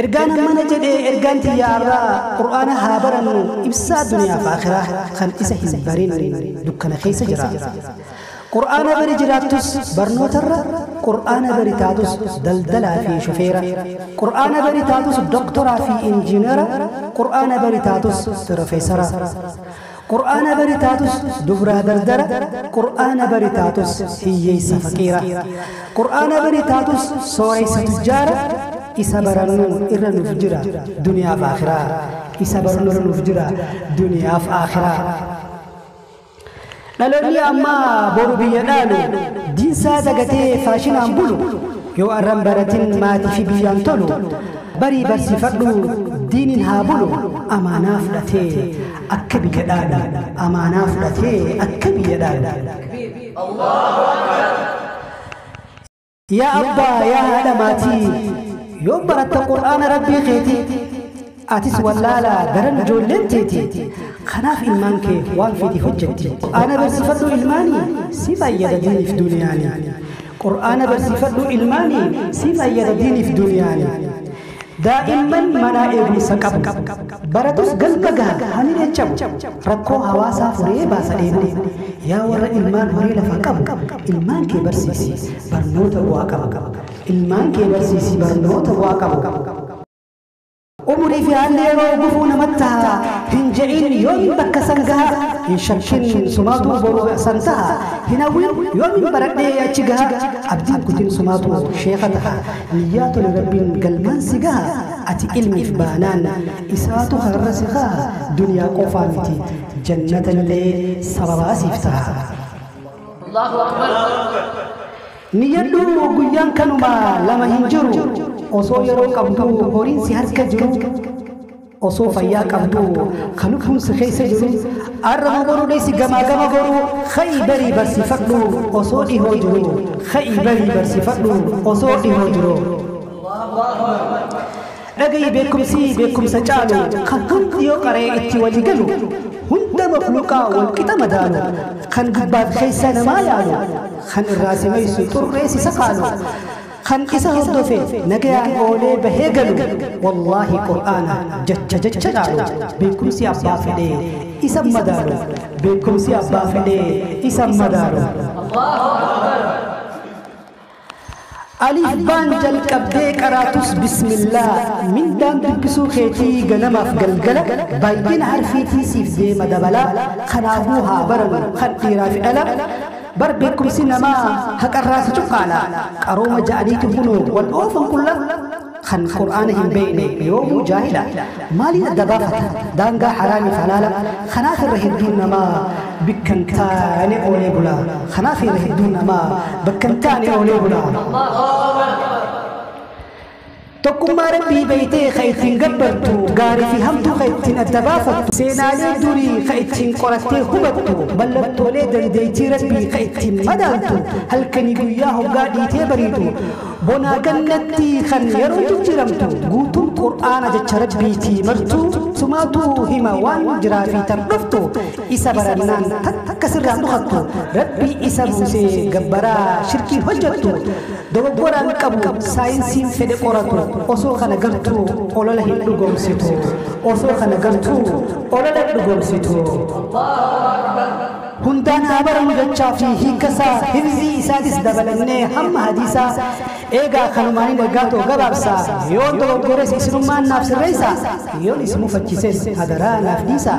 Ergaan hammana jedhe ergaan tiyya arraa qur'aana haa barannu ibsaa duniyaaf aakhiraa kan isa hin barin dukkana keessa jira qur'aana bari jiraattus barnootarra qur'aana bari taatus daldalaa fi shofeera qur'aana bari taatus doktoraa fi injiinara qur'aana bari taatus pirofeesara Qur'aana bari taatus dubraa dardara Qur'aana bari taatus hiyyeessa faqiira Qur'aana bari taatus sooreysa tujjaara Isa barannu irra nuuf jira duniyaaf aakhiraa Isa barnu irra nuuf jira duniyaaf aakhiraa Dhaloonni ammaa boru biyya dhaalu Diinsaa dagatee faashinaan bulu Yoo arran baratin maatifi biyyaan tolu Barii barsiifadhu diinin haa bulu Amaanaa fudhatee Akka biyya dhaalu amaanaa fudhatee akka biyya dhaalu. Yaa abbaa yaa haadha maatii yoom baratta qur'aana rabbii keetii atis wallaala garan ijoolleen teeti kanaaf ilmaan kee waan fedhi hojjetti qur'aana barsiifadhu ilmaani si fayyada diiniif duniyaani qur'aana barsiifadhu ilmaani si fayyada diiniif duniyaani Daa'imman manaa eegumsa qabu. Baratus galma gaha hamilee cabu. Rakkoo hawaasaa furee baasa dheebuu. Yaa warra ilmaan horee lafa qabu. Ilmaan kee barsiisi barnoota bu'aa qabu. Ilmaan kee barsiisi barnoota bu'aa qabu. Umurii fi haalli yeroo gufuu namatti taha. Hin je'in yoomin bakka san gaha. Hin shakkin sumaatu boru san taha. Hin hawwin yoomin baradhee achi gaha. Abdiin kutin sumaatu sheekha taha. Niyyaa tole Rabbiin galmaan si gaha Ati ilmiif baanaan isaatu kararra si kaaha Duniyaa qofaa miti jannatallee sababaa siif taha Niyyadhu guyyaan kanuma lama hin jiru Osoo yeroo qabduu horiin si harka jiru osoo fayyaa qabdu ka lubbuun si keessa jiru arraba godhuu dhiisi gamaa gama godhuu ka'ii barii barsiifadhu osoo dhihoo jiru ka'ii barii barsiifadhu osoo dhihoo jiru. Dhagayi beekumsi beekumsa caalu kan hundi yoo qaree itti walii galu hunda makluuqaa wal qixa madaalu kan gubbaaf keessa namaa yaalu kan irraa si maysu xurree si sakaalu. Kan isa hordofe nagayaan oolee bahee galu wallaahi qur'aana jacha jacha caalu beekumsi abbaa fedhee isan madaalu beekumsi abbaa fedhee isan madaalu. Alif baan jalqabdee qaraatus bismillaa mindaan dubbisuu keetii ganamaaf galgala baay'ina harfiitii siif deema dabalaa kanaafuu haa baranu kan dhiiraa fi dhala Bar beekkumsi namaa haqarraa si cuqqaala, qarooma ja'aniitu kunoo wal oofan qulla, kan qur'aana hin beeyne yoomuu jaahila, maaliin adda baafata daangaa haraamiif halaala, kanaaf irra hedduun namaa bikka hin taane oolee bula, kanaaf irra hedduun namaa bakka hin taane oolee bula. Tokkummaa Rabbii beeytee ka ittiin gabbartu, gaarii fi hamtuu ka ittiin adda baafattu, seenaalee durii ka ittiin qorattee hubattu, mallattoolee dandeeytii Rabbii ka ittiin madaaltu, halkanii guyyaa hoggaa dhiitee bariitu, bonaa gannatti kan yeroon jijjiiramtu, guutuun Qur'aana jecha Rabbiiti, martuu sumaatu hima waan jiraa fi tan dhuftu, isa barannaan takka sirraa hin dhokattu, Rabbii isa buusee gabbaraa shirkiin hojjattu, Dogoggoraan qabu saayinsiin fedhe qoratu osoo kana gartuu olola hin dhugoomsitu osoo kana gartuu olola hin dhugoomsitu. Hundaan haa baramu jechaa fi hiikasaa hifzii isaatis dabalannee hamma hadiisaa eegaa kanumaaniin ergaa too gabaabsa yoon dogoggores isinummaan naaf sirreessa yoon isin mufachises hadaraa naaf dhiisa.